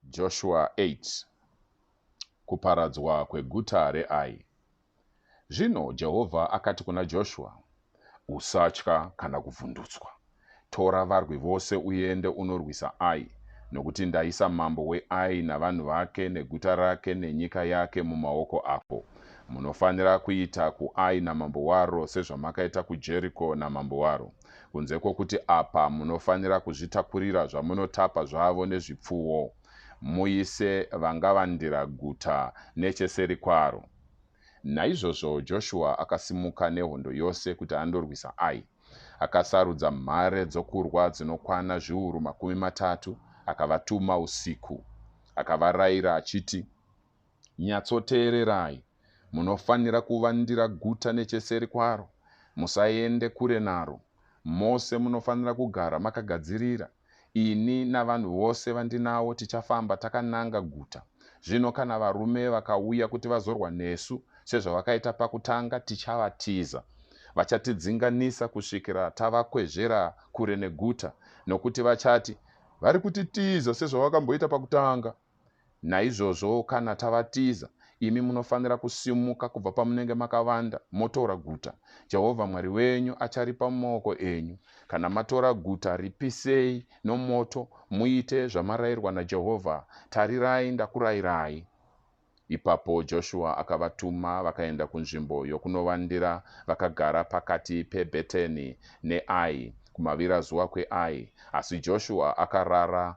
Joshua 8 Kuparadzwa kweguta reAi Zvino Jehovha akati kuna Joshua, Usatya kana kuvhundutswa. Tora varwi vose uende unorwisa Ai, nokuti ndaisa mambo weAi navanhu vake neguta rake nenyika yake mumaoko ako. Munofanira kuita kuAi namambo waro sezvamakaita kuJeriko namambo waro. kunze kwokuti apa munofanira kuzvitakurira zvamunotapa zvavo nezvipfuwo, muise vangavandira guta necheseri kwaro. Naizvozvo Joshua akasimuka nehondo yose kuti andorwisa Ai. Akasarudza mhare dzokurwa dzinokwana zviuru makumi matatu, akavatuma usiku. Akavarayira achiti, Nyatsoteererai, munofanira kuvandira guta necheseri kwaro, musaende kure naro. Mose munofanira kugara makagadzirira. Ini navanhu vose vandinavo tichafamba takananga guta. Zvino kana varume vakauya kuti vazorwa nesu, sezvavakaita pakutanga, tichavatiza. Vachatidzinganisa kusvikira tavakwezvera kure neguta, nokuti vachati, Vari kutitiza sezvavakamboita pakutanga. Naizvozvo kana tavatiza, imi munofanira kusimuka kubva pamunenge makavanda motora guta. Jehovha Mwari wenyu acharipa mumaoko enyu. Kana matora guta, ripisei nomoto, muite zvamarayirwa naJehovha. Tarirai, ndakurayirai. Ipapo Joshua akavatuma vakaenda kunzvimbo yokunovandira vakagara pakati peBheteni neAi, kumavirazuva kweAi. Asi Joshua akarara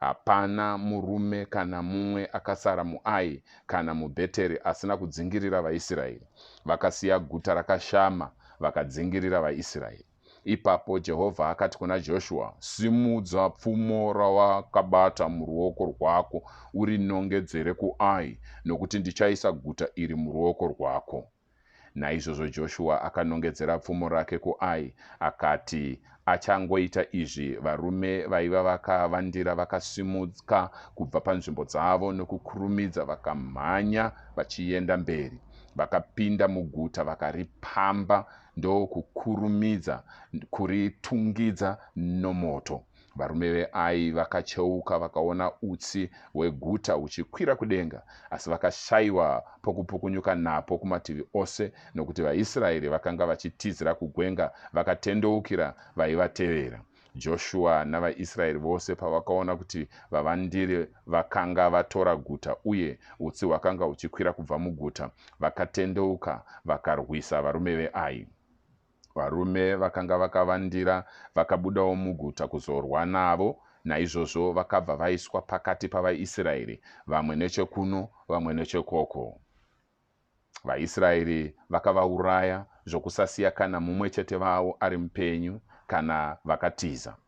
Hapana murume kana mumwe akasara muAi kana muBheteri asina kudzingirira vaIsraeri. Vakasiya guta rakashama vakadzingirira vaIsraeri. Ipapo Jehovha akati kuna Joshua, Simudza pfumo rawakabata muruoko rwako urinongedzere kuAi, nokuti ndichaisa guta iri muruoko rwako. Naizvozvo Joshua akanongedzera pfumo rake kuAi, akati, Achangoita izvi, varume vaiva vakavandira vakasimuka kubva panzvimbo dzavo nokukurumidza vakamhanya vachienda mberi. Vakapinda muguta vakaripamba ndokukurumidza kuritungidza nomoto. Varume veAi vakacheuka vakaona utsi hweguta huchikwira kudenga, asi vakashaiwa pokupukunyuka napo kumativi ose, nokuti vaIsraeri vakanga vachitizira kugwenga vakatendeukira vaivatevera. Joshua navaIsraeri vose pavakaona kuti vavandiri vakanga vatora guta uye utsi hwakanga huchikwira kubva muguta, vakatendeuka vakarwisa varume veAi. Varume vakanga vakavandira vakabudawo muguta kuzorwa navo, naizvozvo vakabva vaiswa pakati pavaIsraeri, vamwe nechekuno, vamwe nechekoko. VaIsraeri vakavauraya zvokusasiya kana mumwe chete vavo ari mupenyu kana vakatiza.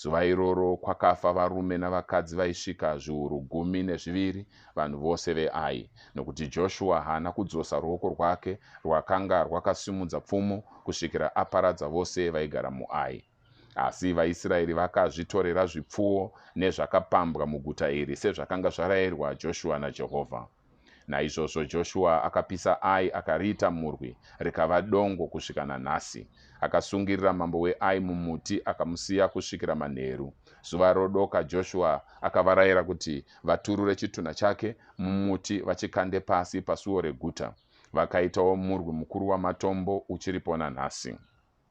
Zuva iroro kwakafa varume navakadzi vaisvika zviuru gumi nezviviri, vanhu vose veAi, nokuti Joshua haana kudzosa ruoko rwake rwakanga rwakasimudza pfumo kusvikira aparadza vose vaigara muAi. Asi vaIsraeri vakazvitorera zvipfuwo nezvakapambwa muguta iri sezvakanga zvarayirwa Joshua naJehovha. Naizvozvo Joshua akapisa Ai akariita murwi, rikava dongo kusvika nanhasi. Akasungirira mambo weAi mumuti akamusiya kusvikira manheru. Zuva rodoka Joshua akavarayira kuti vaturure chitunha chake mumuti vachikande pasi pasuo reguta. Vakaitawo murwi mukuru wamatombo uchiripo nanhasi.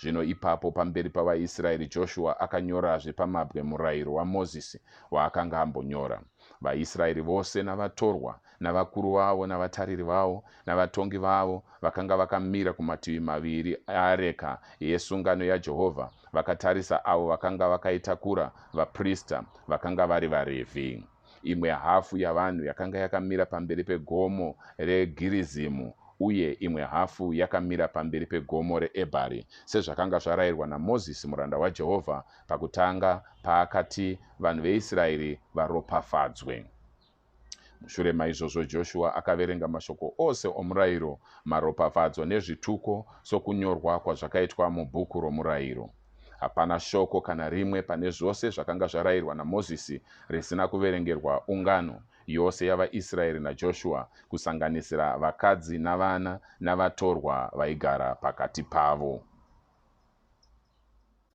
Zvino ipapo pamberi pavaIsraeri Joshua akanyorazve pamabwe murayiro waMozisi waakanga ambonyora. VaIsraeri vose navatorwa navakuru vavo navatariri vavo navatongi vavo vakanga vakamira kumativi maviri eareka yesungano yaJehovha vakatarisa avo vakanga vakaitakura, vaprista vakanga vari vaRevhi. Imwe hafu yavanhu yakanga yakamira pamberi pegomo reGirizimu uye imwe hafu yakamira pamberi pegomo reEbhari, sezvakanga zvarayirwa naMozisi muranda waJehovha pakutanga paakati vanhu veIsraeri varopafadzwe. Mushure maizvozvo Joshua akaverenga mashoko ose omurayiro, maropafadzo nezvituko sokunyorwa kwazvakaitwa mubhuku romurayiro. Hapana shoko kana rimwe pane zvose zvakanga zvarayirwa naMozisi risina kuverengerwa ungano yose yavaIsraeri naJoshua, kusanganisira vakadzi navana navatorwa vaigara pakati pavo.